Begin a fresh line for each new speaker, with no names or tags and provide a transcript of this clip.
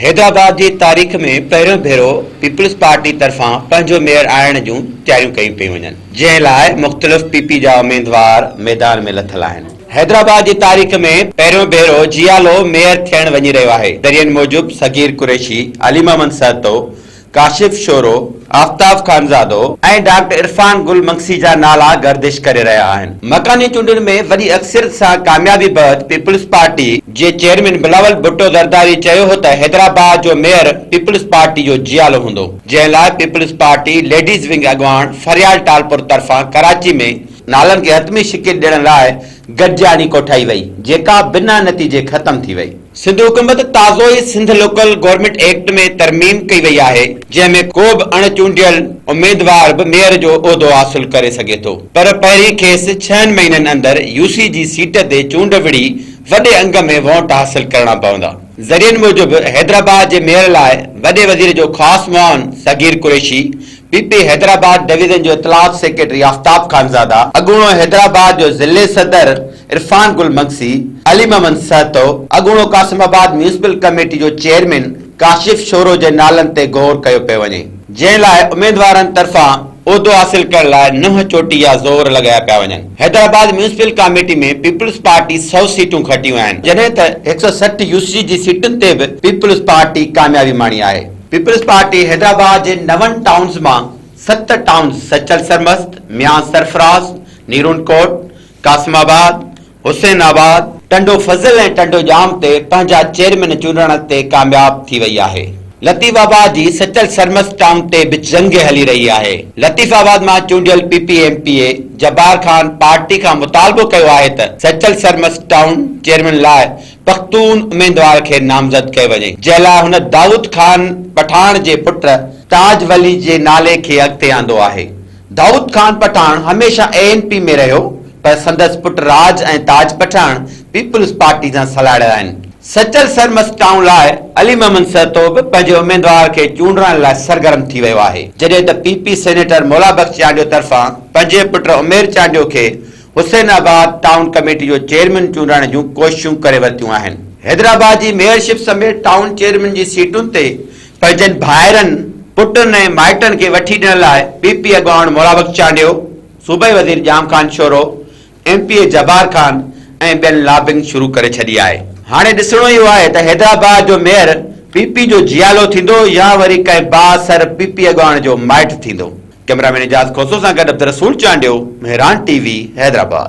حيدرآباد جي تاريخ ۾ پهريون ڀيرو پيپلز پارٽي طرفان پنهنجو ميئر آڻڻ جون تياريون ڪيون پيون وڃن، جنهن لاء مختلف پي پي جا اميدوار ميدان ۾ لٿل آهن. حيدرآباد جي تاريخ ۾ پهريون ڀيرو جيالو ميئر ٿيڻ وڃي رهيو آهي. ذريعن موجب صغير قريشي، علي محمد سهتو، ڪاشف شورو، آفتاب خانزادو ۽ ڊاڪٽر عرفان گل منگسي جا نالا گردش ڪري رهيا آهن. مڪاني چونڊن ۾ وڏي اڪثريت سان ڪاميابي بعد پيپلز پارٽي جي چيئرمين بلاول ڀٽو زرداري چيو هو ته حيدرآباد جو ميئر پيپلز پارٽي جو جيالو هوندو جنهن لاء پيپلز پارٽي ليڊيز ونگ اڳواڻ فريال ٽالپر طرفان ڪراچي ۾ نالن کي حتمي شڪل ڏيڻ لاء گڏجاڻي ڪوٺائي وئي، جيڪا بنا نتيجي ختم ٿي وئي. سنڌ حڪومت تازو ئي سنڌ لوڪل گورنمينٽ ايڪٽ ۾ ترميم ڪئي وئي آهي، جنهن ۾ ڪو به اڻ چونڊيل اميدوار به ميئر جو عهدو حاصل ڪري سگهي ٿو، پر پهرين کيس ڇهن مهينن اندر يو سي جي سيٽ تي چونڊ وڙهي وڏي انگ ۾ وونٽ حاصل ڪرڻا پوندا. ذريعن موجب حيدرآباد جي ميئر لاء وڏي وزير جو خاص معاون Saghir Qureshi P P Hyderabad division جو اطلاعات سيڪريٽري آفتاب خانزاده، اڳوڻو حيدرآباد جو ضلعي صدر عرفان گل مگسي، علي محمد سهتو، اڳوڻو قاسم آباد ميونسپل ڪميٽي جو چيئرمين ڪاشف شورو جي نالن تي غور ڪيو پيو وڃي، جنهن لاء اميدوارن طرفان عهدو حاصل ڪرڻ لاء ننهن چوٽي يا زور لڳايا پيا وڃن، حيدرآباد ميونسپل ڪاميٽي ۾ پيپلز پارٽي سؤ سيٽون کٽيون آهن، جڏهن ته هڪ سؤ سٺ يو سي جي سيٽن تي به پيپلز پارٽي ڪاميابي ماڻي آهي. پيپلز پارٽي حيدرآباد جي نون ٽائونز مان ست ٽائونز سچل سرمست، ميان سرفراز، نيرون ڪوٽ، قاسم آباد، حسين آباد، ٽنڊو فضل ۽ ٽنڊو ڄام تي پنهنجا چيئرمين چونڊڻ تي ڪامياب ٿي وئي آهي. لطيف آباد جي سچل سرمست ٽائون تي به جنگ هلي رهي آهي. لطيف آباد مان چونڊيل P P M P A Jabbar Khan party کان مطالبو ڪيو آهي ته سچل سرمست ٽائون چيئرمين لاء پختون اميدوار کي نامزد ڪيو وڃي، جنهن لاء هن دائود خان پٺاڻ جي پٽ تاج ولي جي نالي کي اڳتي آندو آهي. دائود خان پٺاڻ هميشه اي اين پي ۾ رهيو پر سندس پٽ راج ۽ تاج پٺاڻ پيپلز پارٽي سان سلهاڙيل آهن. سچل سرمست ٽائون لاء علي محمد سهتو به پنهنجي اميدوار کي چونڊرائڻ لاء سرگرم ٿي ويو آهي، جڏهن ته P P senator Mola Bux Chandio طرفان پنهنجي پٽ عمير چانڊيو کي حسين آباد ٽائون ڪميٽي جو چيئرمين چونڊڻ جون ڪوششون ڪري ورتيون آهن. حيدرآباد جي ميئرشپ سميت ٽائون چيئرمين جي سيٽن تي پنهنجن ڀائرن، پٽن ۽ مائٽن کي وٺي ڏيڻ لاء پي پي اڳواڻ مورابخش چانڊيو، صوبائي وزير Jam Khan Shoro, M P A Jabbar Khan ۽ ٻين لابنگ شروع ڪري ڇڏي آهي. هاڻي ڏسڻو اهو آهي ته حيدرآباد جو ميئر پي پي جو جيالو ٿيندو يا وري ڪنهن بااثر پي پي اڳواڻ جو مائٽ ٿيندو. ڪئميرا مين اعجاز کوسو سان گڏ عبدالرسول چانڊيو، مهراڻ ٽي وي، حيدرآباد.